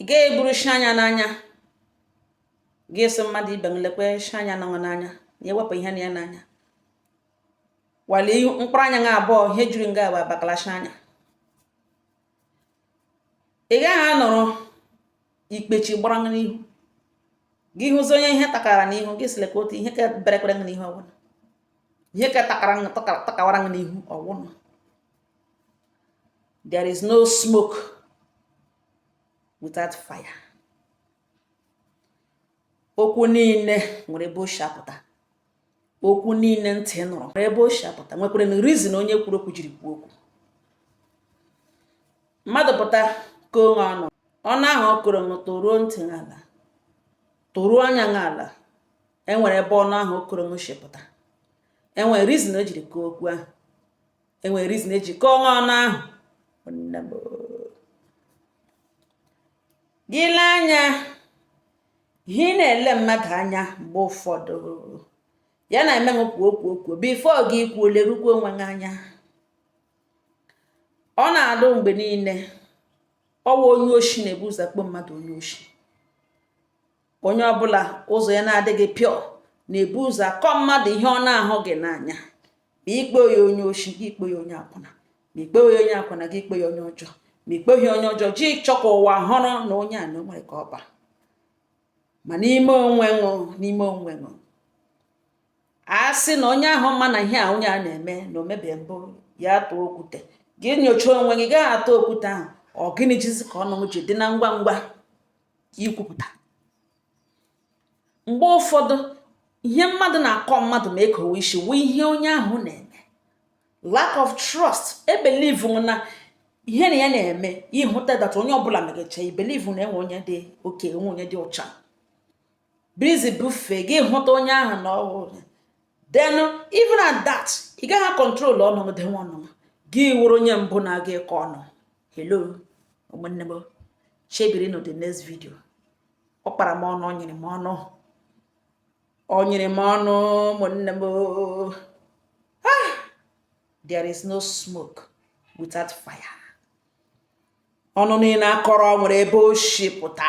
ị gaghị eburu shi anya n'anya gị sị mmadụ ibe m lekwa shi anya nọ n'anya na ewepụ ihe nọ ya n'anya while mkpụrụ anya gị abụọ ihe juru nga bụ abakala shi anya ị gaghị anọrọ ikpechi gbara n'ihu gị hụzi onye ihe takara n'ihu gị sịle ka otu ihe ka berekwere n'ihu ọwụna ihe ka takara takawara n'ihu ọwụna there is no smoke without fire okwu niile nwere ebe o si apụta okwu niile ntị nụrụ nwere ebe o si apụta nwekwara na reason onye kwuru okwu jiri kwuo okwu mmadụ pụta kọọ ṅụ ọnụ ọnụ ahụ ọ kọrọ ṅụ toruo ntị n'ala toruo anya n'ala enwere ebe ọnụ ahụ ọ kọrọ ṅụ shi pụta enwere reason o jiri kwuo okwu ahụ enwere reason eji kọọ ṅụ ọnụ ahụ gị lee anya ihe ị na-ele mmadụ anya mgbe ụfọdụ ya na-eme kwuo kwuo kwuo before gị kwuo lerukwa onwe gị anya ọ na-adụ mgbe niile ọwa onye oshi na-ebu ụzọ kpọ mmadụ onye oshi onye ọbụla ụzọ ya na-adịghị pure na-ebu ụzọ akọ mmadụ ihe ọ na-ahụghị n'anya ma ikpe ya onye oshi gị ikpe ya onye akwụna ma ikpe ya onye akwụna gị ikpe ya onye ọjọọ ma ikpe ya onye ọjọọ gị chọọ ka ụwa hụrụ na onye a na onwere ka ọ ba ma n'ime onwe ṅụ n'ime onwe ṅụ a sị na onye ahụ ma na ihe a onye a na-eme na omebe mbụ ya tụọ okwute gị nyochaa onwe gị gaghị atụ okwute ahụ ọ gịnị jizi ka ọnụ ji dị na ngwa ngwa ikwupụta mgbe ụfọdụ ihe mmadụ na-akọ mmadụ ma ekowe isi wụ ihe onye ahụ na-eme lack of trust ị believe na ihe na ya na-eme ịhụta that onye ọbụla megacha ị believe na enwe onye dị okay enwe onye dị ọcha berezi before gị hụta onye ahụ na ọhụrụ then even at that ị gaghị control ọnụ gị denwe ọnụ gị wụrụ onye mbụ na-aga ịkọ ọnụ hello ụmụnne m chebirinụ the next video ọ kpara m ọnụ o nyere m ọnụ o nyere m ọnụ ụmụnne m ah! there is no smoke without fire ọnụ niile akọrọ nwere ebe o si pụta